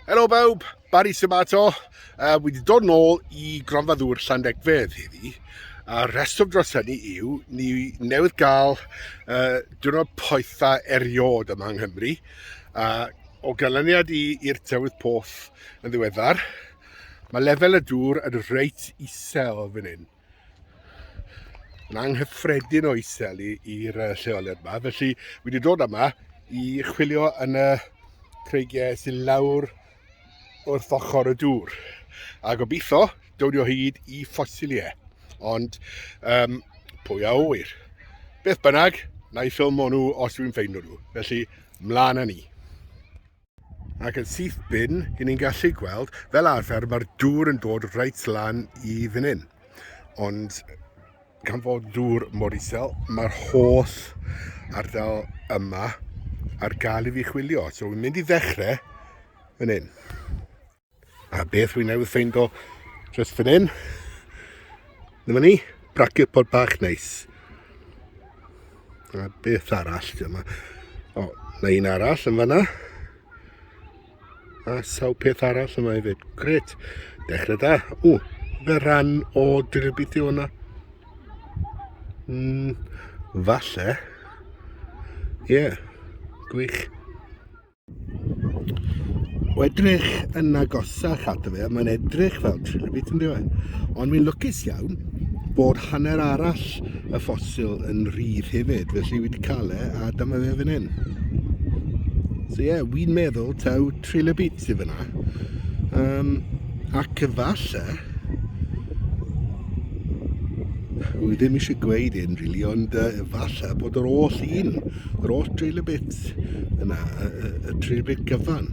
Helo bawb, Barry Simato. Uh, wedi dod nôl i gronfa ddŵr Llandegfedd heddi. A rheswm dros hynny yw, ni newydd gael uh, diwrnod poetha eriod yma yng Nghymru. A o ganlyniad i'r tywydd poff yn ddiweddar, mae lefel y dŵr yn reit isel fan hyn. Yn anghyffredin o isel i'r lleoliad yma, felly wedi dod yma i chwilio yn y creigiau sy'n lawr wrth ochr y dŵr. A gobeithio dod o hyd i ffosiliau. Ond um, pwy a oer? Beth bynnag, na i ffilm nhw os dwi'n ffeindio nhw. Felly, mlaen â ni. Ac yn syth bin, i ni'n gallu gweld, fel arfer mae'r dŵr yn dod reit lan i fan hyn. Ond gan fod dŵr mor isel, mae'r holl ardal yma ar gael i fi chwilio. So, fi'n mynd i ddechrau fan hyn. A beth rwy'n newydd ffeind o just fan hyn. Dyma ni, bracio pod bach neis. A beth arall dyma. O, na un arall yn fanna. A saw peth arall yma hefyd. Gret. Dechrau da. O, fe rhan o dirybithio hwnna. Mm, falle. Ie, yeah, gwych. O edrych yn agosach ato fe, mae'n edrych fel trilobit yn dweud. Ond mi'n lwcus iawn bod hanner arall y ffosil yn rhydd hefyd, felly wedi cael e a dyma fe fan hyn. So ie, yeah, wy'n meddwl taw trilobit sydd fyna. Um, ac efallai, Wy ddim eisiau gweud un rili, really, ond uh, efallai bod yr oll un, yr oll drill y bit Pits yna, y, y, y trefyd gyfan.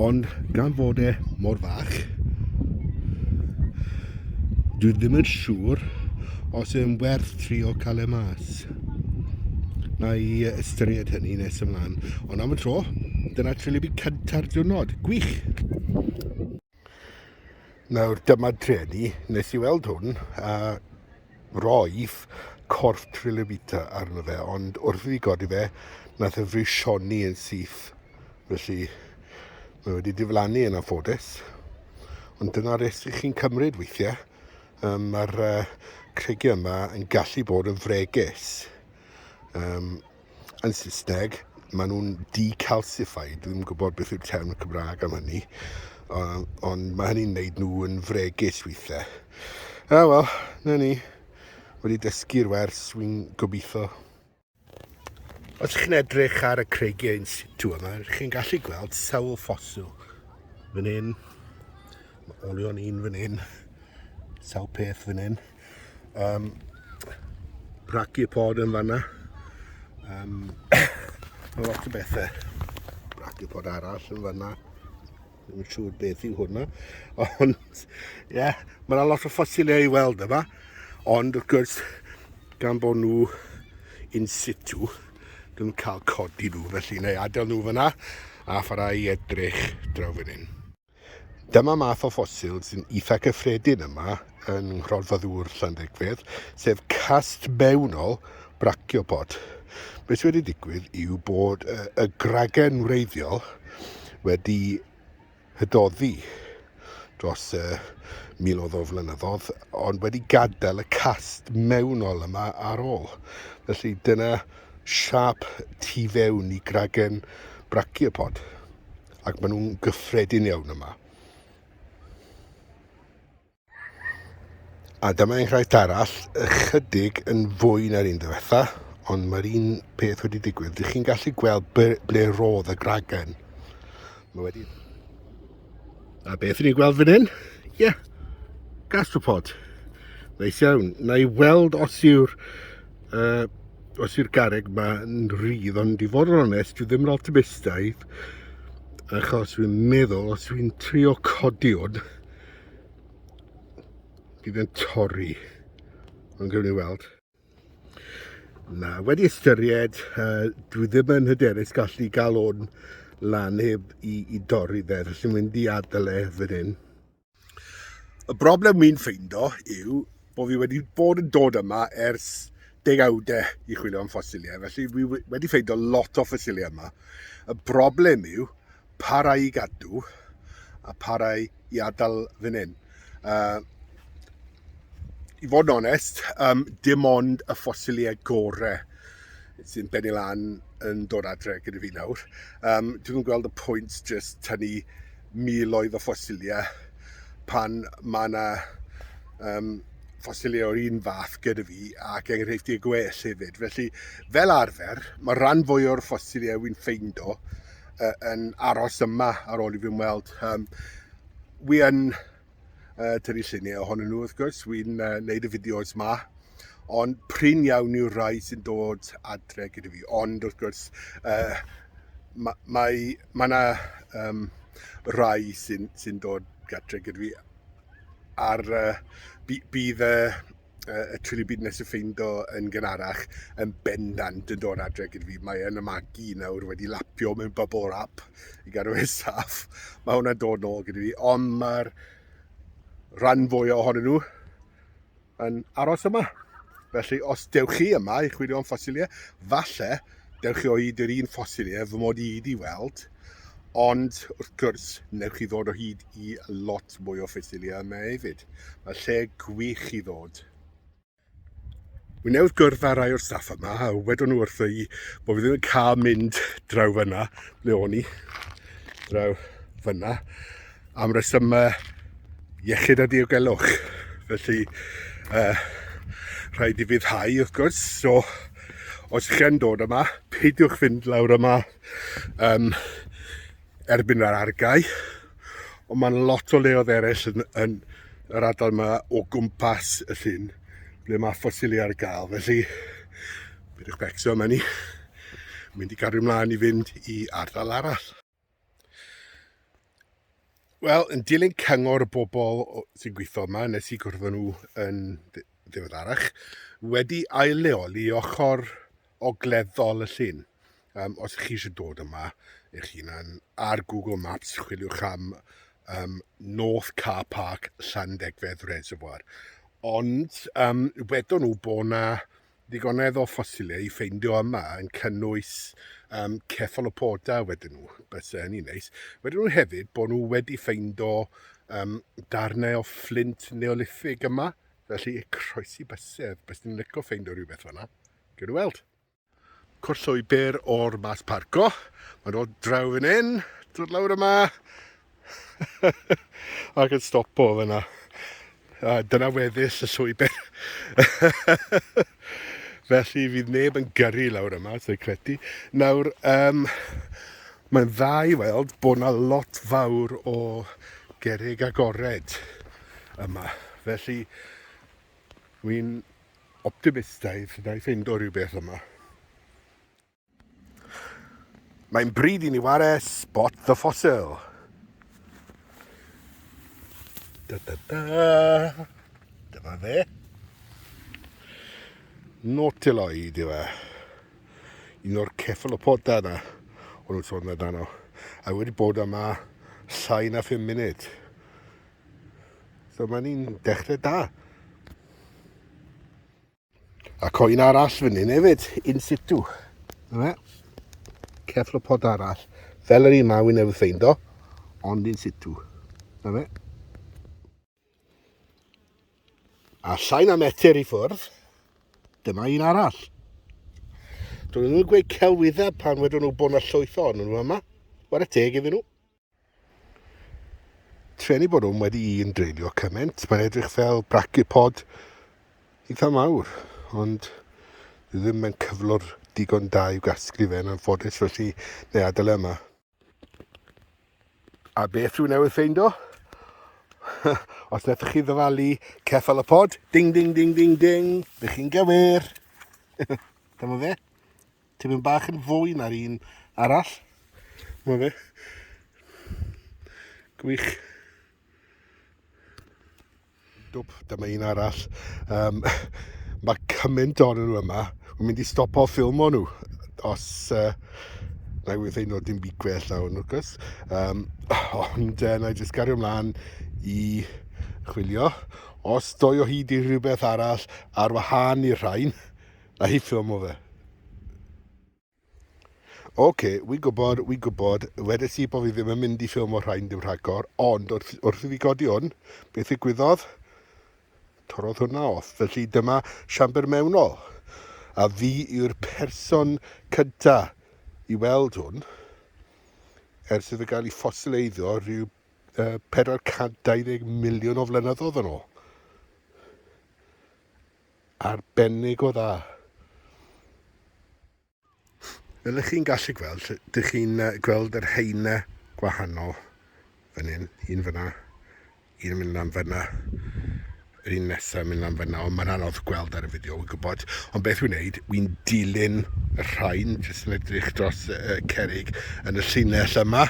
Ond gan fod e mor fach, dwi ddim yn siŵr os yw'n werth tri o cael e mas. Na i ystyried hynny nes ymlaen. Ond am y tro, dyna trefyd cyntaf diwrnod. Gwych! Nawr, dyma drueni, nes i weld hwn, a roedd corff Trilobita arno fe, ond wrth i fi godi fe, nath y frisioni yn syth. Felly, mae wedi diflannu yn anffodus. Ond dyna risg i chi'n cymryd weithiau. Um, Mae'r uh, creigiau yma yn gallu bod yn fregus. Um, yn Saesneg, maen nhw'n decalcified, dwi'n ddim yn gwybod beth yw'r term Cymraeg am hynny, ond mae hynny'n gwneud nhw yn fregus weithiau. A wel, na ni, wedi dysgu'r wers, wy'n gobeithio. Os chi'n edrych ar y creigiau yn situ yma, chi'n gallu gweld sawl ffosil. Fan hyn, mae olion un fan hyn, sawl peth fan hyn. Um, braci pod yn fanna. Um, mae lot o bethau. Braci pod arall yn fanna. Ddim yn siŵr beth yw hwnna. Ond, ie, yeah, mae yna lot o ffosiliau i weld yma. Ond, wrth gwrs, gan bod nhw in situ, dwi'n cael codi nhw felly neu adael nhw fyna a pharau i edrych draw fan hyn. Dyma math o ffosil sy'n eitha cyffredin yma yng Nghronfa Ddŵr Llandegfyr, sef cast mewnol braciopod. Beth sydd wedi digwydd yw bod y gragen wreiddiol wedi hydoddi dros y miloedd o flynyddoedd, ond wedi gadael y cast mewnol yma ar ôl. Felly dyna siap tu fewn i gragen braciopod. ac maen nhw'n gyffredin iawn yma. A dyma enghraifft arall, ychydig yn fwy na'r un diwetha, ond mae'r un peth wedi digwydd. Dych chi'n gallu gweld ble roedd y gragen. Mae wedi... A beth ni'n gweld fan hyn? Ie, yeah. gastropod. Neis iawn. Na i weld os yw'r Uh, os i'r gareg ma yn rhydd, ond i fod yn onest, dwi ddim yn optimistaidd, achos dwi'n meddwl, os dwi'n trio codi hwn, bydd yn torri. Ond gwn i weld. Na, wedi ystyried, uh, dwi ddim yn hyderus gallu gael hwn lan heb i, i dorri fe, felly mynd i adael e fan hyn. Y broblem wy'n ffeindo yw bod fi wedi bod yn dod yma ers degawdau i chwilio am ffosiliau, felly fi wedi ffeindo lot o ffosiliau yma. Y broblem yw pa rai i gadw a pa rai i adael fan hyn. Uh, i fod yn onest, um, dim ond y ffosiliau gore sy'n benni lan yn dod adre gyda fi nawr. Um, dwi'n gweld y pwynt jyst tynnu miloedd o ffosiliau pan mae yna um, ffosiliau o'r un fath gyda fi ac enghreifftiau gwell hefyd. Felly, fel arfer, mae rhan fwy o'r ffosiliau wy'n ffeindo uh, yn aros yma ar ôl i fi'n weld. Um, wi yn uh, tynnu lluniau ohonyn nhw wrth gwrs, wy'n uh, neud y fideos ma, ond prin iawn yw'r rhai sy'n dod adre gyda fi, ond wrth gwrs uh, mae ma, ma yna um, rhai sy'n sy dod adre gyda fi ar uh, bydd y y Chili Bean nes i ffeind o yn gynharach yn bendant yn dod adre gyda fi. Mae yn y magi nawr wedi lapio mewn bubble wrap i gadw fe saff. Mae hwnna'n dod nôl gyda fi, ond mae'r rhan fwy ohonyn nhw yn aros yma. Felly, os dewch chi yma i chwilio am ffosiliau, falle dewch chi o hyd i'r un ffosil ef fy mod i wedi weld, ond wrth gwrs, newch chi ddod o hyd i lot mwy o ffosilia yma hefyd. Mae lle gwych i ddod. Wy newydd gwrdd â rai o'r staff yma a wedon nhw wrtho i bod fi ddim yn cael mynd draw fyna, ble o'n i, draw fyna. am resymau iechyd a diogelwch. Felly, uh, rhaid i fyddhau wrth gwrs, so os ych chi'n dod yma, peidiwch fynd lawr yma um, erbyn yr argau, ond mae'n lot o leodd eraill yn, yn yr adal yma o gwmpas y llun ble mae ffosili ar gael, felly bydwch becso yma ni, mynd i gario ymlaen i fynd i ardal arall. Wel, yn dilyn cyngor y bobl sy'n gweithio yma, nes i gwrdd nhw yn ddiweddarach, wedi ail-leoli ochr ogleddol y llun. Um, os chi eisiau dod yma eich hunan, ar Google Maps chwiliwch am um, North Car Park Llandegfedd Reservoir. Ond um, wedon nhw bod yna Digonedd o ffosilau i ffeindio yma yn cynnwys um, ceffalopoda wedyn nhw, bys e hynny'n neis. Wedyn nhw hefyd bod nhw wedi ffeindio um, darnau o fflint neolithig yma, felly croesi bysedd, bys ni'n lyco ffeindio rhywbeth fanna. Gyda weld. Cwrt llwybr o'r mas parco, mae'n dod draw fan hyn, dod lawr yma, Ac yn stopo fyna. A dyna weddill y llwybr. Felly fydd neb yn gyrru lawr yma, dwi'n credu. Nawr, um, mae'n dda i weld bod yna lot fawr o gerig agored yma. Felly, wy'n optimistaidd na i ffeindo rhywbeth yma. Mae'n bryd i ni ware Spot the Fossil. Da da da. Dyma fe. Nautiloid yw e. Un o'r ceffalopoda yna. O'n nhw'n sôn amdano. A wedi bod yma llai na 5 munud. So mae'n un dechrau da. Ac o un arall fyny hefyd, in situ. Yna, ceflopod arall. Fel yr un ma, wy'n newydd ffeind o, ond in situ. Yna. A llai na metr i ffwrdd, dyma un arall. Dwi'n nhw'n gweud celwyddau pan wedyn nhw bod yna llwyth o'n nhw yma. Wara teg iddyn nhw. Treni bod hwn wedi un dreulio cymaint, mae'n edrych fel brachipod eitha mawr, ond ddim yn cyflwr digon da i'w gasglu fe yn anffodus, felly neu adael e yma. A beth rwy'n newydd ffeindo? Os nethoch chi ddyfalu ceffal y pod, ding ding ding ding ding, ydych chi'n gywir. Dyma fe. tipyn bach yn fwy na'r un arall. Mae fe. Gwych. Dwp, dyma un arall. Um, mae cymaint o'n nhw yma. Mae'n mynd i stop o ffilm o'n nhw. Os... Uh, na i weithio nhw dim byd gwell na hwn, wrth Um, ond uh, na i jyst gario ymlaen i chwilio. Os doi o hyd i rhywbeth arall ar wahân i'r rhain, A hi ffilmo fe. Oce, wi'n gwybod, wi'n gwybod, wedes i bod fi ddim yn mynd i ffilmo rhain dim rhagor, ond wrth, wrth i fi godi hwn, beth ddigwyddodd? Torodd hwnna off, felly dyma siambr mewnol. A fi yw'r person cynta i weld hwn, ers iddo gael ei ffosileiddio rhyw uh, 420 miliwn o flynyddoedd yn ôl. arbennig o dda. Fel ych chi'n gallu gweld, dych chi'n gweld yr heine gwahanol fan hyn, un fyna, un yn mynd lan fyna, yr un nesaf mynd lan fyna, ond mae'n anodd gweld ar y fideo, wy'n gwybod. Ond beth wy'n neud, wy'n dilyn y rhain, jyst yn edrych dros y, y cerig yn y llinell yma.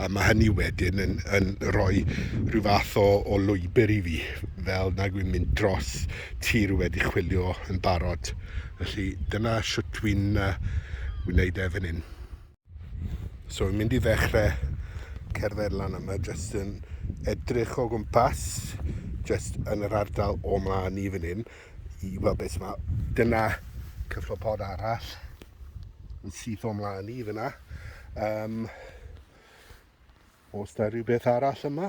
A mae hynny wedyn yn, yn rhoi rhyw fath o, o lwybr i fi, fel nag wy'n mynd dros tir wedi chwilio yn barod. Felly dyna sut wy'n uh, wneud e fan hyn. So wy'n mynd i ddechrau cerdded lan yma, jyst yn edrych o gwmpas, jyst yn yr ardal o mlaen i fan hyn. i weld beth mae. Dyna cyflopod arall yn syth o mlaen i fyna. Um, os da rhywbeth arall yma,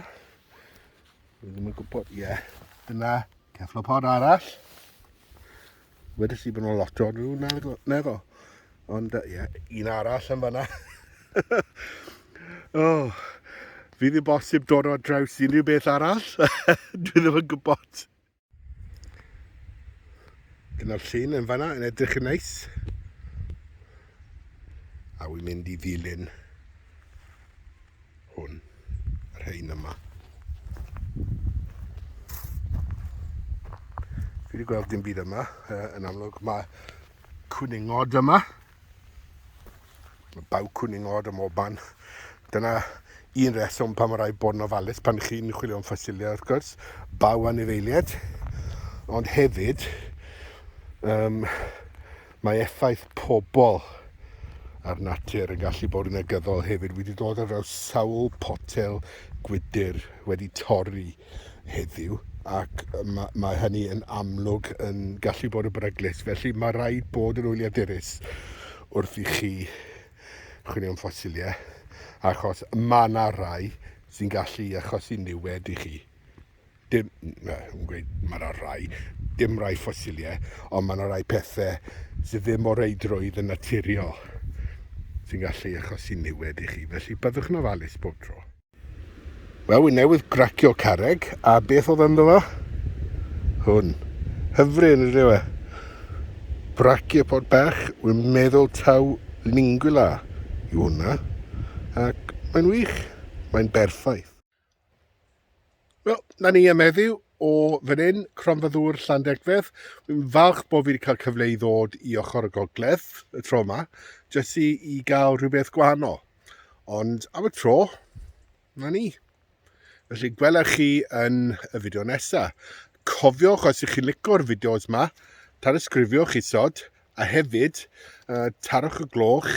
dwi ddim yn gwybod, ie, yeah. dyna cyflopod arall. Wedi si bod nhw'n lot o nhw, neddol. Ond, ie, yeah, un arall yn fyna. oh, fi ddim bosib dod o draws unrhyw beth arall. Dwi ddim yn gwybod. Dyna'r llun yn fanna yn edrych yn neis. A wy'n mynd i ddilyn hwn, yr hein yma. Fi wedi gweld dim byd yma, yn amlwg mae cwningod yma. Mae baw cwning od am oban. Dyna un reswm pan mae rhaid bod yn ofalus pan chi'n chwilio am ffosilia, wrth gwrs, baw anifeiliaid, ond hefyd um, mae effaith pobl a'r natur yn gallu bod yn negyddol hefyd. Wedi dod ar draws sawl potel gwydr wedi torri heddiw ac mae, mae hynny yn amlwg yn gallu bod yn beryglus. Felly mae rhaid bod yn wyliadurus wrth i chi chwilio am ffosiliau, achos mae yna rai sy'n gallu achosi niwed i chi. Dim, na, yn gweud, mae yna rai, dim rai ffosiliau, ond mae yna rai pethau sydd ddim o reidrwydd yn naturiol sy'n gallu achosi niwed i chi. Felly byddwch yn ofalus bob tro. Wel, wy newydd gracio carreg, a beth oedd ynddo fo? Hwn. Hyfryd, yn rydw e. Brachiopodd bach, wy'n meddwl taw lingula yw hwnna. Ac mae'n wych, mae'n berffaith. Wel, na ni am heddiw o fan hyn, Cronfa Ddŵr Llandegfedd. Fi'n falch bod fi wedi cael cyfle i ddod i ochr y gogledd y tro yma, jyst i, i gael rhywbeth gwahanol. Ond am y tro, na ni. Felly, gwella chi yn y fideo nesaf. Cofiwch, os ych chi'n licio'r fideos yma, tanysgrifiwch isod A hefyd, uh, tarwch y gloch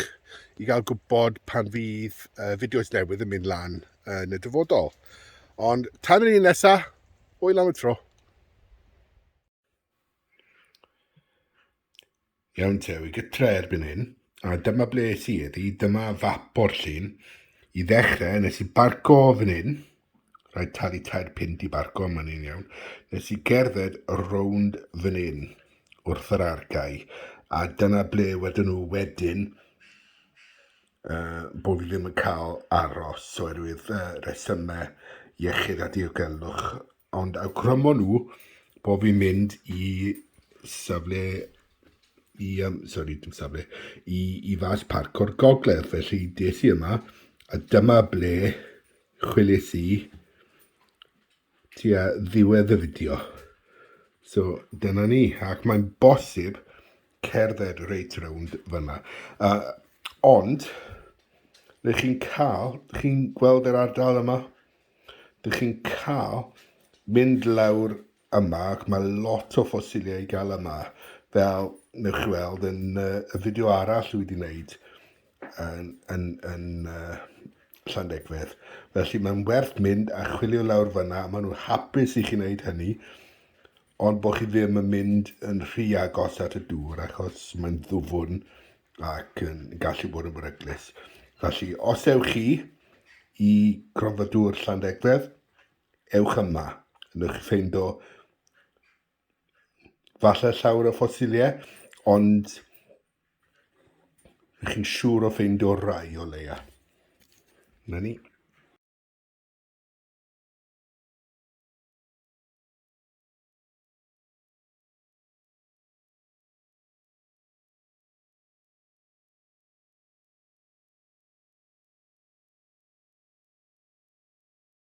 i gael gwybod pan fydd uh, fideos newydd yn mynd lan yn y dyfodol. Ond tan yr un nesaf, hwyl am y tro. Iawn te, wy gytre erbyn hyn, a dyma ble es i eddi, dyma fap o'r llun. I ddechrau, nes i barco fan hyn, Rhaid talu tair punt i barco, mae'n un iawn. Nes i gerdded rownd fan hyn wrth yr argae, a dyna ble wedyn nhw wedyn uh, bod fi ddim yn cael aros oherwydd uh, resymau iechyd a diogelwch. Ond awgrymo nhw bod fi'n mynd i safle i, um, sorry, dim safle, i, i fas parc o'r gogledd. Felly des i yma, a dyma ble chwilies i tua ddiwedd y fideo. So dyna ni, ac mae'n bosib cerdded reit rownd fyna. Uh, ond, rydych chi'n cael, rydych chi'n gweld yr ardal yma, rydych chi'n cael mynd lawr yma ac mae lot o ffosiliau i gael yma fel newch chi weld yn uh, y fideo arall dwi wedi wneud yn, yn, yn uh, Llandegfedd felly mae'n werth mynd a chwilio lawr fyna a maen nhw'n hapus i chi wneud hynny ond bod chi ddim yn mynd yn rhy agos at y dŵr achos mae'n ddwfwn ac yn gallu bod yn beryglus felly os ewch chi i gronfa dŵr Llandegfedd Ewch yma, newch chi ffeindo falle llawer o ffosiliau, ond rydych chi'n siŵr o ffeindio rai o leia. Na ni.